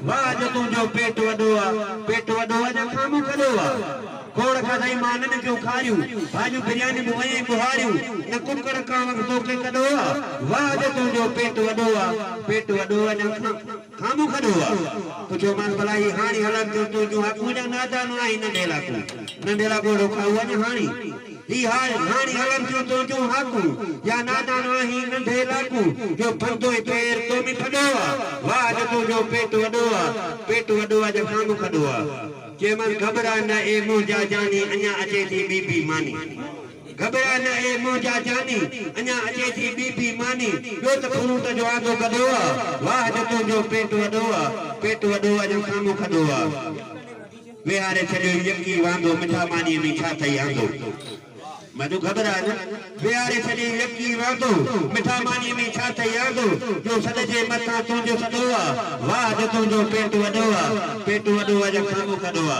واھ اڄ تون جو پيٽ وڏو آ. پيٽ وڏو آ جا کامون کڏو آ. کوڙ کاڌائين مانن ڪيون کاريون. ڀاڄيون بريانيون به ويئين ٻهاريون. نه ڪڪڙ ڪاوڙ توکي ڪڏو آ. واھ اڄ تون جو پيٽ وڏو آ. پيٽ وڏو آ جا کامون. کان مون کڏو آ. پڇيومانس ڀلا هي هاڻي هلن ٿيون تنهنجون هاڪون يا نادانو آهين ننڍي لاکون. ننڍي لاکون اڙو کائو اڃا هاڻي. هي هاڻي هلن ٿيون تنهنجون هاڪون يا نادانو آهين ننڍي لاکون. جو بندو ۽ پير تو ۾ ڦڏو آ. واهه اڄ تنهنجو پيٽ وڏو آ. پيٽ وڏو آ اڄ کان مون کڏو آ. چيومانس گهٻرا نه اي منهنجا جاني اڃا اچي ٿي ٻي بي ماني. گهٻرا نه اي منهنجا جاني، اڃا اچي ٿي ٻي ٻي ماني، ٻيو ته فروٽ جو آندو گڏو آ، واهه جو تنهنجو پيٽ وڏو آ، پيٽ وڏو آ ڄڻ سامهون کڏو آ. ويهاري ڇڏيو يڪي واندو، مٺا مانيء ۾ ڇا ٿئي آندو. مدو گهٻرا نه. ويهاري ڇڏيئي يڪي واندو، مٺا مانيء ۾ ڇا ٿئي آندو، جو سڏجي مٿان تنهنجو سڏو آ، واهه جو تنهنجو پيٽ وڏو آ، پيٽ وڏو آ ڄڻ سامهون کڏو آ.